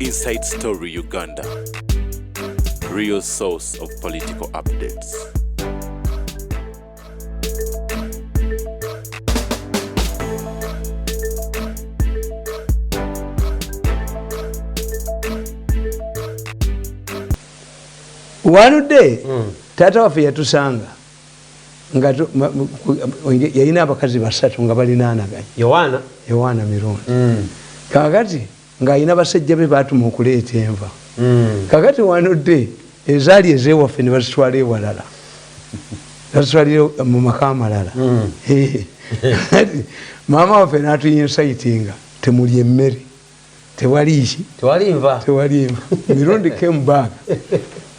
Inside Story Uganda, real source of political updates. One day, mm. Tata wafe yatusanga. yalina abakazi basatu nga balinanaganya yowaana yowaana mirundi mm. kakati ng'alina basajja be baatuma okuleeta enva mm. kakati wanodde ezaali ezewaffe ne bazitwala ewalala bazitwalire mu maka amalala mm. maama waffe n'atuyinsaitinga temuli emmere tewali ki tewali nva tewali nva mirundi came back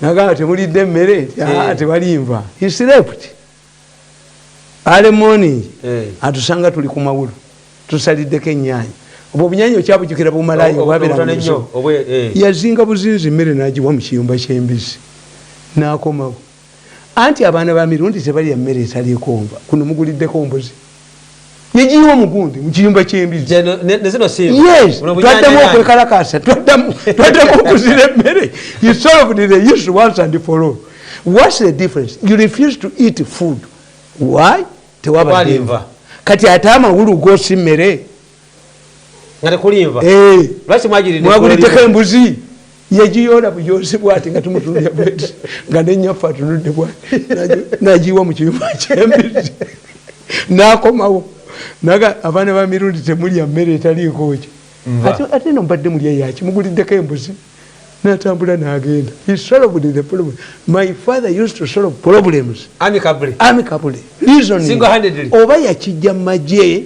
nagamba temulidde emmere nti ah, eh. tewali nva he slept ale morning eh. atusanga tuli ku mawulu tusaliddeko ennyanya obwo obunyanya okyabujukira bumalayo obwaberanyo eh. yazinga buzinzi emmere nagiwa mu kiyumba ky'embizzi n'akomawo anti abaana ba mirundi tebalya mmere etaliiko nva kuno muguliddeko mbuzi negiyiwa omugundi mukiyumba kyembizitwaddemu okwekalakasa twaddemu okuzira emmere tewaba kati ate amawulu gosi mmere nga tekulinva eh. lwaki mwagiriddeko embuzi yegiyoola buyoozi bwati nga tumutuulya bweti nga nenyaffe atunudde bwa nagiwa mu kiyuma kyembizi nakomawo naga abaana ba mirundi temulya mmere etaliikoki ate no mbadde mulya yaki muguliddeko embuzi natambula nagenda my father used to solve problems amicably oba yakijja mu magye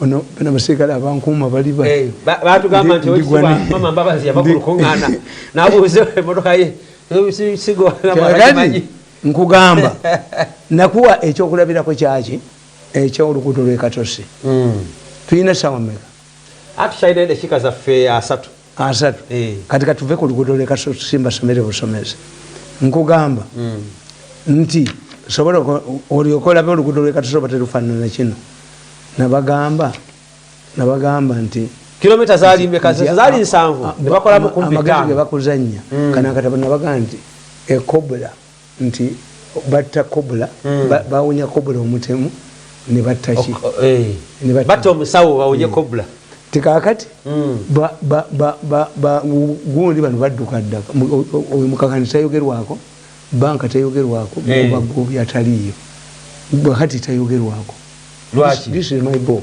ono bana basekale abankuuma bali batugamba nti mama mbabazi yava kulukungana nabuuza emotoka ye sigokati nkugamba nakuwa ekyokulabirako kyaki ekyolukuto lwekatosi hmm. tulina sawa meka atukyalina edakika zaffe asatu asatu eh. kati katuve ku luguudo lwekasimba somere busomezi nkugamba hmm. nti sobola olyoka olabe oluguudo lwekatusoba terufanana kino nabagamba nabagamba nti kilomita zalimbekazali nsanvu nebakolamu ah, ah, kumagezi gebakuzanya hmm. kanakatabanabaga nti ekobula nti batta kobula mm. ba, bawunya kobula omutemu ne batta ki eh. batta omusawo bawunye mm. kobula tekakati mm. gundi bano badduka ddaka oyo mukakani tayogerwako banka tayogerwako eh. bagobi ataliiyo kati tayogerwako lwaki this is my book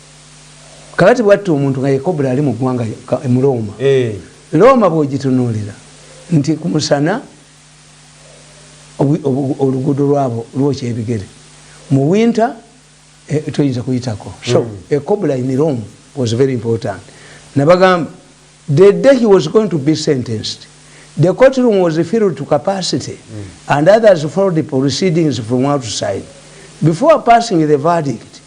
kakati bwatta omuntu nga yekobula ali mu ggwanga mu looma eh. looma bwogitunuulira nti ku musana oluguudo lwabo lwokya ebigere mu winta eh, toyinza kuyitako so hmm. ekobula in rome was very important nabagamba the day he was going to be sentenced the court room was filled to capacity mm. and others followed the proceedings from outside before passing the verdict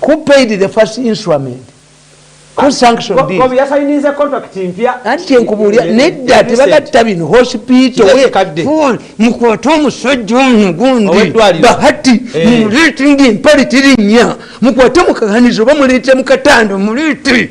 who paid the first instrument who sanctioned this bobi yasayinize contract mpya anti kyenkubulira nedda tebagatta bino hospital we phone mukwata omusajja ono gundi bahati eh. mumuleetinga empale terinnya mukwate mukaganizo oba muleete mukatanda omuleete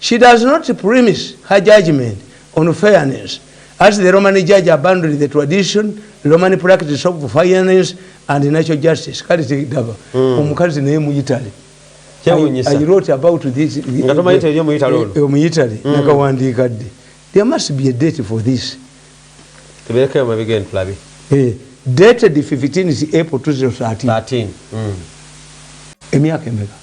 She does not premise her judgment on fairness as the Roman judge abandoned the tradition Roman practice of fairness and natural justice kale tegaba hmm. omukazi naye mu Italy I wrote about this nga tomayita eri omuyitale ono omuyitale mm. nakawandiika dde there must be a date for this tuberekeyo amabiga eno tulabe eh, dated 15 april 2013 emyaka emeka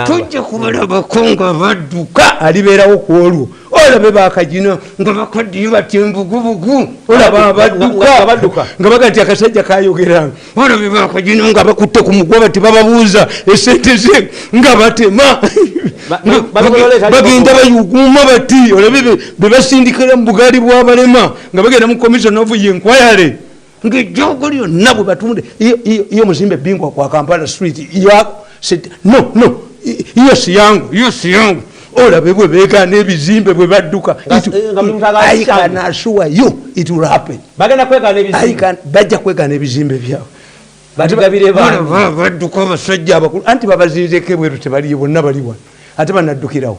tujja kubalabako nga badduka alibeerawo ku olwo olabe bakagina nga bakaddiyo bati embugubugu olaba abadduka nga bagati akasajja kayogeranga olabe bakagina nga bakutte ku mugoba ti bababuuza esente ze nga batema bagenda bayuguuma bati olabe bebasindikira mu bugaali bwabalema nga bagenda mu commission of yenkwayale ngaejjogo lyonna bwe batunde iyo muzimbe bingwa kwa kampala street yako no no iyo siyangu iyo siyangu olabe bwe begaana ebizimbe bwe badduka ikanasuwa yo it will happen bajja kwegaana ebizimbe byabwe badduka abasajja abakulu anti babazinzeko ebweru tebaliyo bonna bali wano ate banaddukirawo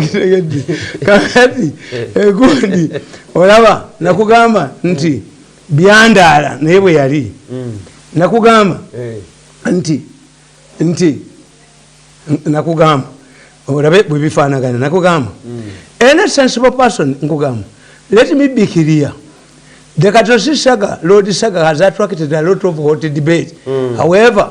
kitegedde kakati egundi eh, olaba nakugamba nti byandaala naye bwe yali mm. nakugamba eh. nti nti nakugamba olabe bwe bifaanagana nakugamba mm. any sensible person nkugamba let me be clear the katosi saga lord saga has attracted a lot of hot debate mm. however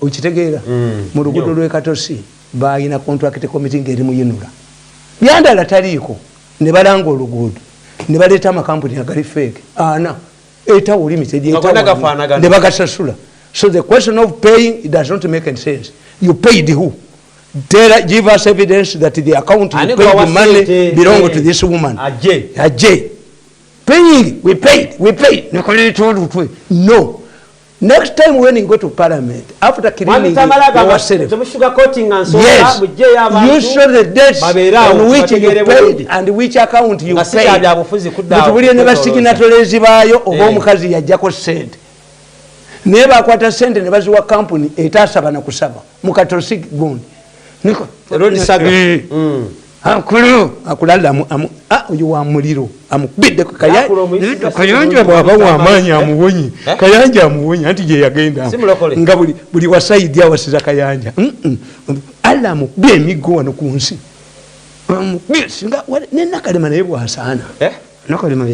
okitegeera mm. mu lugudo lwekatosi balina contract committee ngaeri muyinula byandala taliiko ne balanga oluguudo ne baleeta amakampuni agali feeke ana etawo limited ne bagasasula so the question of paying it does not make any sense you paid who tell give us evidence that the account you paid the money belong to this woman aje aje paying we paid we paid no Next time when you go to parliament, after killing you, yourself, yes, you show the dates on which you paid and which account you paid. Mutubulire ne basiginatoleezi baayo oba eh. omukazi yajjako ssente naye bakwata ssente ne baziwa kampuni etaasaba na kusaba mu katolsik gundi ankulu akulala ah, oyo wa muliro amukubidde kayanja bwaba wamaanyi eh? amuwonye eh? kayanja amuwonye anti gyeyagenda nga buli wasaidi awasiza kayanja alla amukubye emiggo wano ku nsi nenakalema naye bwasaana eh? nakalema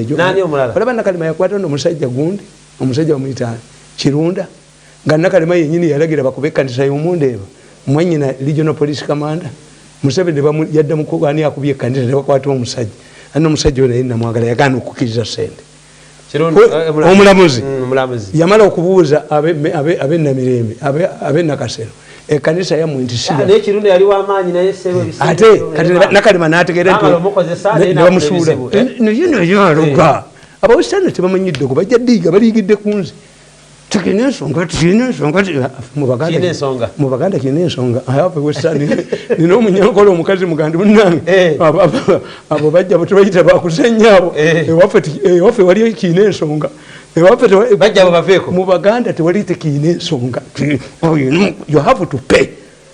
olaba nakalema yakwata no omusajja gundi omusajja wamuyitaani kirunda nga nakalema yenyini yalagira bakube ekanisa yomundeeba mwanyina regional police commander museveni yadda mukubani akubye ekanisa nebakwata omusajja anna omusajja oyo naye namwagala yagaana okukiriza sente eh, omulamuzi mm, yamala okubuuza abenamirembe abenakasero ekanisa yamwe nti ate kati nakalema nategeera ntinebamusuula eh? naye naye aloga eh. abawesitani tebamanyidde ku bajja diiga baliigidde ku nze tulina ensonga tulina ensonga mubaganda kirina ensonga ayapewesani nina omunyankole omukazi mugandi munange eh. abo bajja bwetubayita bakuzenya abo eh. ewaffe waliyo kirina ensonga mubaganda tewali tekirina ensonga you have to pay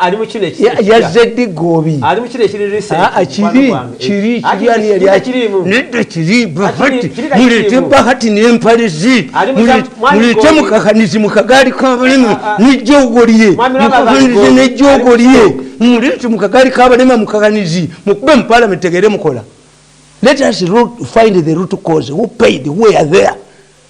ali mukino yazedde gobi ali mukino ekiri recentnedda kiri bahati mulete bahati nempale ze mulete mukakanizi mukagaali kabalema nejogolye mukakanizi nejogolye mulete mukagaali kabalema mukakanizi mukube mupalamenti tegere mukola let us root, find the root cause who paid who are there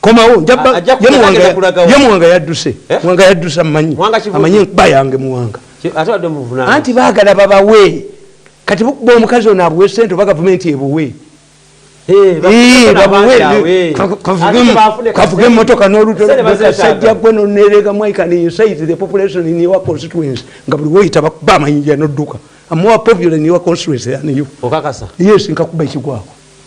komawo njamuwanga yadduse eh? muwanga yadduse amanyi amanyi nkuba yange muwanga anti bagala babawe kati bukuba omukazi ono abuwe sente oba gavumenti ebuwe kavuga emotoka nolutoasajja gwe nonerega mwaikansaitthepopulationinyowaconstituency nga buli woyita bakuba amanyi janoduka amowa popular nyowa constituency aniyo yes nkakuba ekigwako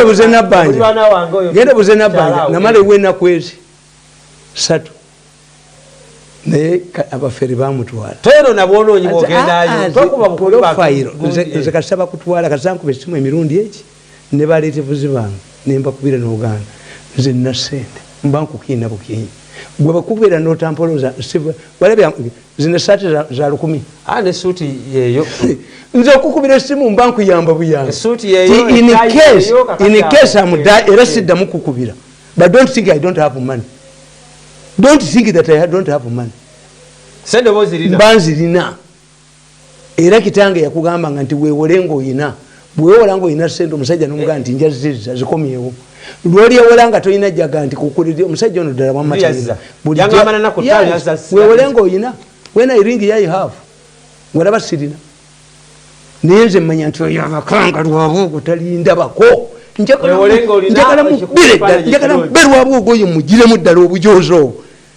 obuze nabbanjagenda obuze nabbanja namala ewa enaku ezi satu naye abafere bamutwala teno nabwonoonyi bwogendayo ah, ah, nze kasaba kutwala kasankuba esimu emirundi eki ne baletevuzi bange nembakubira nogaana nze nna sente mba nkukiina bukiinyi gwe bakubira notampoloza walabya zino esaati za lukumi ah, nesuuti yeyo nze okukubira esimu mba nkuyamba buyamba era siddamu kukubira but don't think i don't have money don't think that i don't have money mba nzirina era kitange yakugamba nga nti wewole ngaoyina bwewewola nga oyina sente omusajja nomugaa nti njazizza zikomyewo lwolyewola nga tolina jaga nti kukulid omusajja ono ddala wamaweewole ngaoyina wena iringi yai have walaba sirina naye nze mmanya nti oyo amakanga lwaba ogwo talindabako njagala mubere ddala njagala mubere waba ogwo oyo mugiremu ddala obujoozi obwo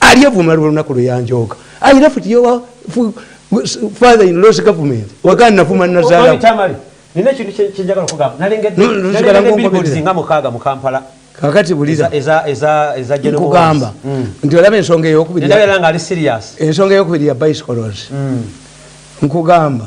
ali avuma lwolunaku lweyanjooga i left your father in laws government wagana navuma nazala nina ekintu kyenjagala okugamba nalengedde nga mukaaga mu kampala kakati bulizankugamba mm. nti olaba ensonga eyokubiri ensonga eyokubiri ya bicycles mm. nkugamba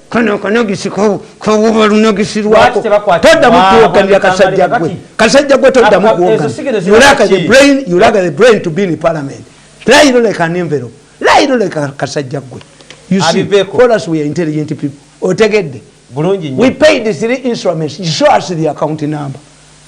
kano kanagisi kawuba lunagisi lwako toddamu kuwoganira kasajja gwe kasajja gwe toddamu kuwoganirabraintobeparliament lairo like an envelope lairo like kasajja gwe otegedde we paid three instruments show us the account number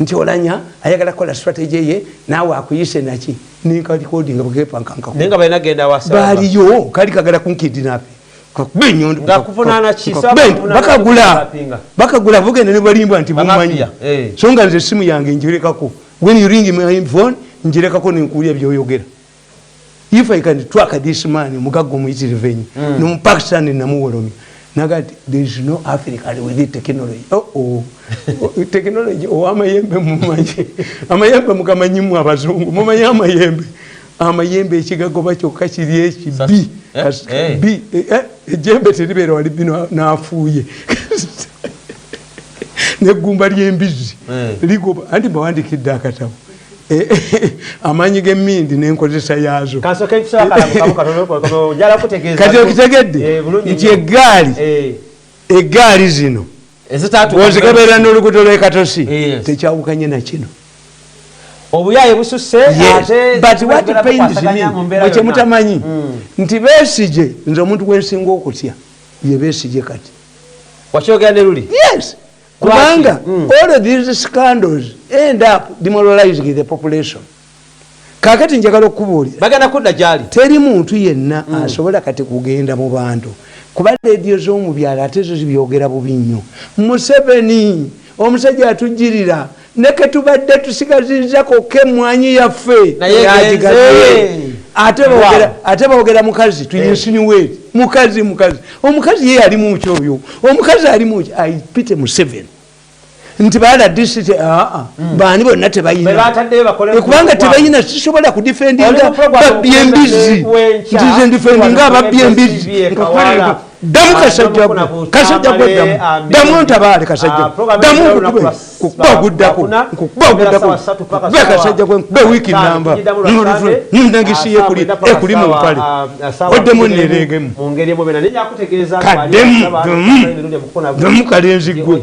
nti olanya ayagala kola strategy ye nawe akuyise naki ninkalikodi nga bwekepankankakunaye nga balina genda wasa baliyo kali kagala kunkidinapi bakagula bakagula bugenda nebalimbwa nti bumanyi eh. so nga nze esimu yange njirekako when you ring my phone njirekako nenkuulya byoyogera if i can track this man omugagga omuyitirivu enyo mm. nomupakistani namuwolomya naga ti there is no african with the technology oh, oh. technology owamayembe oh, mumanyi amayembe mugamanyimu abazungu mumanyi amayembe amayembe ekigagoba kyokka kiri ekibi eh, eh. bi eh, ejembe teribeera wali bino nafuuye negumba lyembizi ligoba anti bawandikidde akatabo Eh, eh, amaanyi g'emmindi n'enkozesa yaazo kati okitegedde eh, nti eggaali eggaali zino ozikebeera n'oluguudo lw'ekatosi tekyawukanye na kino obuyaye bususe kyemutamanyi hmm. nti besije nze omuntu gwensinga okutya ye besije kati wakyogera ne luli yes kubanga mm. all of these scandals end up demoralizing the population kakati njagala okukubuulira bagenda kudda gyali teri muntu yenna mm. asobola kati kugenda mu bantu kuba leediyo z'omu byalo ate zo zibyogera bubi nnyo museveni omusajja atujjirira neketubadde tusigazizza kokka emwanyi yaffe ate bogera mukazi tuyinsiniwe eh. mukazi mukazi omukazi ye yali muki oyo omukazi ali muki aipite museven nti bala disiti aa ah, ah. hmm. baani bonna tebayinakubanga eh, tebayina sisobola kudifendinga babyembizi nti zendifendinga ababyembizi damu kasajja gwe kasajja gwe damu damu ntabaale kasajja ah, damu nkukube nkukuba oguddako nkukuba oguddako nkube kasajja gwe nkube wiiki namba nulutule nundangisiyo ekuli ekuli mu mpale ah, ah, oddemu nereegemu kaddemu damu kalenzi gwe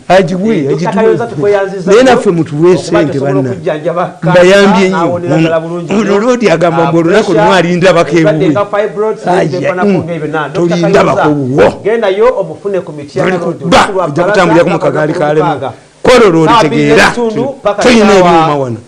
naye naffe mutuwe sente banambayambye nyo ono lodi agamba mbu olunaku lumu alindabako ewuwe tolindabako wuwo olikuba ojja kutambulira ku mukagaali kalemu kwolwo lwolitegeera tulina ebyuma wano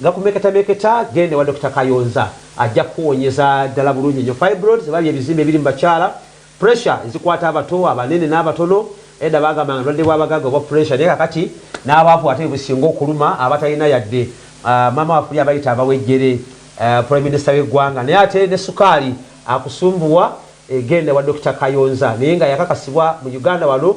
Nga kumeketameketa genda ewa Dokita Kayonza ajja kukuwonyeza ddala bulungi nnyo fibroids oba bye bizimba ebiri mu bakyala, pressure ezikwata abato, abanene n'abatono, edda baagambanga bulwadde bwa bagagga obwa pressure naye kakati n'abaavu ate bwe businga okuluma abatalina yadde, maama waffe oli abayita abawejjere, Prime Minister w'eggwanga naye ate ne sukaali akusumbuwa genda ewa Dokita Kayonza naye nga yakakasibwa mu Uganda wano.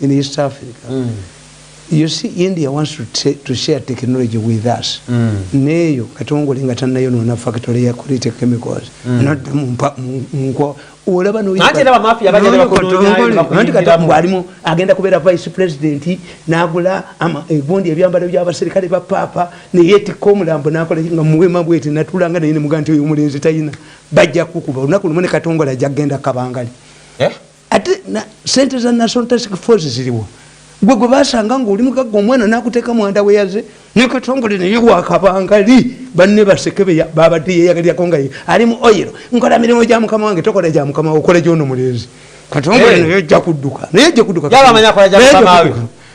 in east africa mm. you see india wants to, t to share technology with us mm. neyo katongole nga tanayo nona factory ya kurite chemicals mm. not mpa mko olaba no ate na mafia baje na kodonya nti kata mwalimu agenda kubera vice president nagula ama egundi eh, ebyambalo bya baserikale ba papa ne yeti komulambo nakola nga muwema bwete natulanga ne muganti oyo mulenzi tayina bajja kukuba unakulumene katongole ajagenda kabangali eh ate sente za national task force ziriwa gwe gwe basanga ngaoli mugagga omwana nakuteeka mwanda weyaze nekatongole naye wakabangali banne baseke babadde yeyagalyako nga ali mu oil nkola mirimu gya mukama wange tokola gya mukama okola gyono mulenzi katongole naye ojja kudduka naye ojja kudduka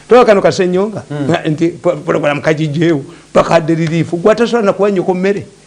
tokano kasenyonga hmm. nti programu kagijjeewo pakadde liriifu gwatasobola nakuwanyoko mmere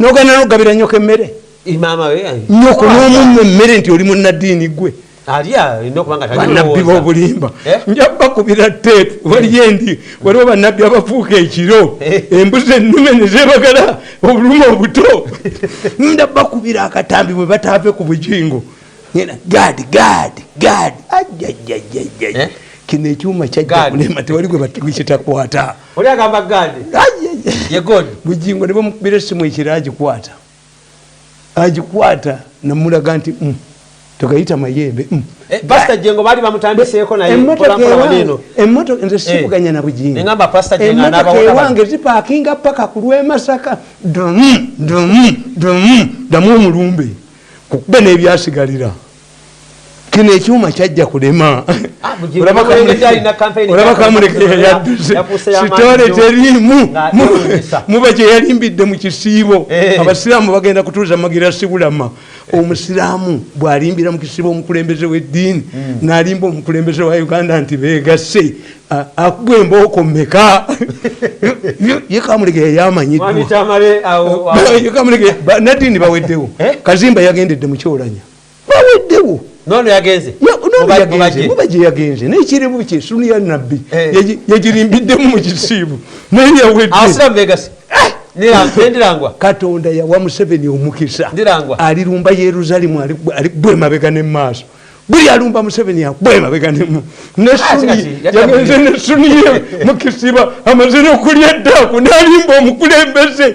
nogana nokugabira nyoko emmere nyoko nomumu emmere nti oli munaddiini gwe banabbi bobulimba eh? nja bakubira teepu waliyo endi waliwo banabbi abafuuka ekiro eh. embuzi ennume nezebagala obuluma obuto nda bakubira akatambi bwe bataave ku bujingo gadi gadi gadi ajajajajaj eh? kino ekyuma kyajjakulema tewali gwe batukitakwata oli agamba gadi ye god bujingo nebo mukubira simu ekira agikwata agikwata namulaga nti mm, tokayita mayembe mm. eh, pasta jengo bali bamutandiseeko naye mpolampolawaneno emotoka nze sivuganya eh. na bujingo engamba pasta jengo anabaona ewange zipakinga paka ku lwemasaka dum dum dum damu omulumbe kukube nebyasigalira kino ekyuma kyajja kulema ah, olabakamulekeyaddusitole teriimu muba gyeyalimbidde mu kisiibo eh. abasiraamu bagenda kutuuza magira sibulama omusiraamu bwalimbira mu kisiibo omukulembeze w'eddiini hmm. nalimba omukulembeze wa uganda nti beegasse akuba embooko meka ye kamulege yayamanyiddwa nadini baweddewo eh? kazimba yagendedde mu kyolanya baweddewo nono yagenze muba gye yagenze naye kirimu kye sunu ya nabbi eh. yagirimbiddemu mu kisiibu naye yaweddeabasiramubegassi ndirangwa katonda yawa museveni omukisa ndirangwa alirumba yerusalimu ali bwemabega ne maaso buli alumba museveni akubwemabega nemu neyagenze ah, nesuniye mukisiba amaze nokulya eddaku nalimba omukulembeze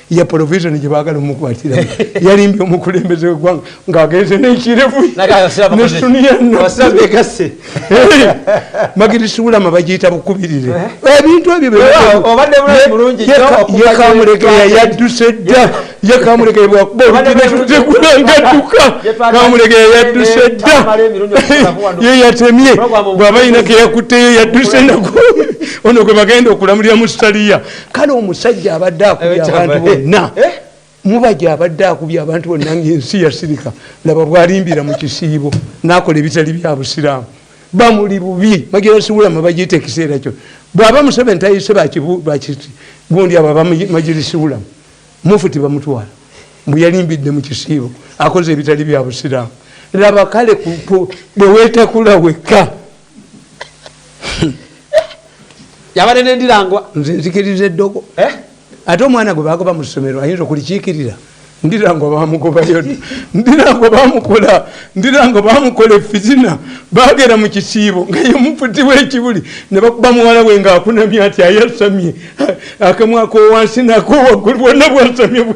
ya provision gye baagala omukwatira yalimbye omukulembeze wegwanga ng'agenze n'ekirevunesuniyanobegase magiri siwulama bagiyita bukubirire eh? Eh, ebintu ebyoyekamulegeya yadduse dda ye kamulegeya bwakuba olutekulangatuka kamulegeya yadduse dda ye yatemye bw'aba yina keyakutte ye yadduse naku ono gwe bagenda okulamulira mu sitaliya kale omusajja abadde akubye abantu bonna eh? mubaja abadde akubye abantu bonna ngaensi yasirika laba bwalimbira mu kisiibo nakola ebitali bya busiraamu bamuli bubi bagira siwulama bagiyita ekiseera kyo bwaba museveni tayise bakiti gundi abo abamajiri siwulama mufuti bamutwala mbu yalimbidde mu kisiibo akoze ebitali bya busiraamu laba kale bwewetakula wekka yabadde nendirangwa nze nzikiriza eddogo eh? ate omwana gwe bagoba mu ssomero ayinza okulikiikirira ndirangwa bamugobayo ndirangwa bamukola ndirangwa bamukola efizina bagera mu kisiibo nga yemufuti wekibuli ne bakuba muwala we nga akunamye ati ayasamye akamwakowansi nakowaggulu bwonna bwasamye bwe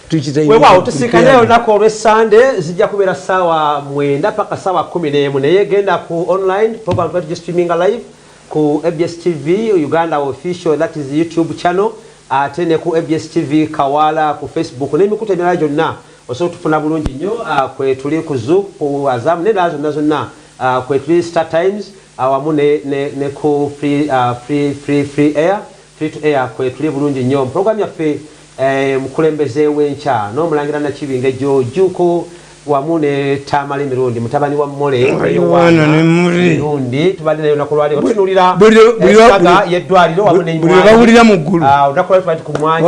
wewaawo tusinkane olunaku olwessande zijja kubeera saawa mwenda paka saawa kumi n'emu naye genda ku online program tuba tugistreaminga live ku abs tv uganda official that is youtube channel ate ne ku abs tv kawaala ku facebook n'emikutu emirala gyonna osobola tufuna bulungi nnyo ah, kwetuli ku zoo ku azamu n'endala zonna zonna ah, kwetuli star times awamu ah, ne, ne, ne ku free, uh, free, free, free air Free to air kwetuli bulungi nnyo mu program yaffe Mukulembeze w'enkya n'omulangira Nakibinge Joe Jjuuko wamu ne Tamale Mirundi mutabani wa Mole Yowaana Mirundi tubadde naye olunaku lwaleero tutunuulira ensaga y'eddwaliro wamu ne buli lwe bawulira mu ggulu ah, olunaku lwaleero tubadde ku mwanyi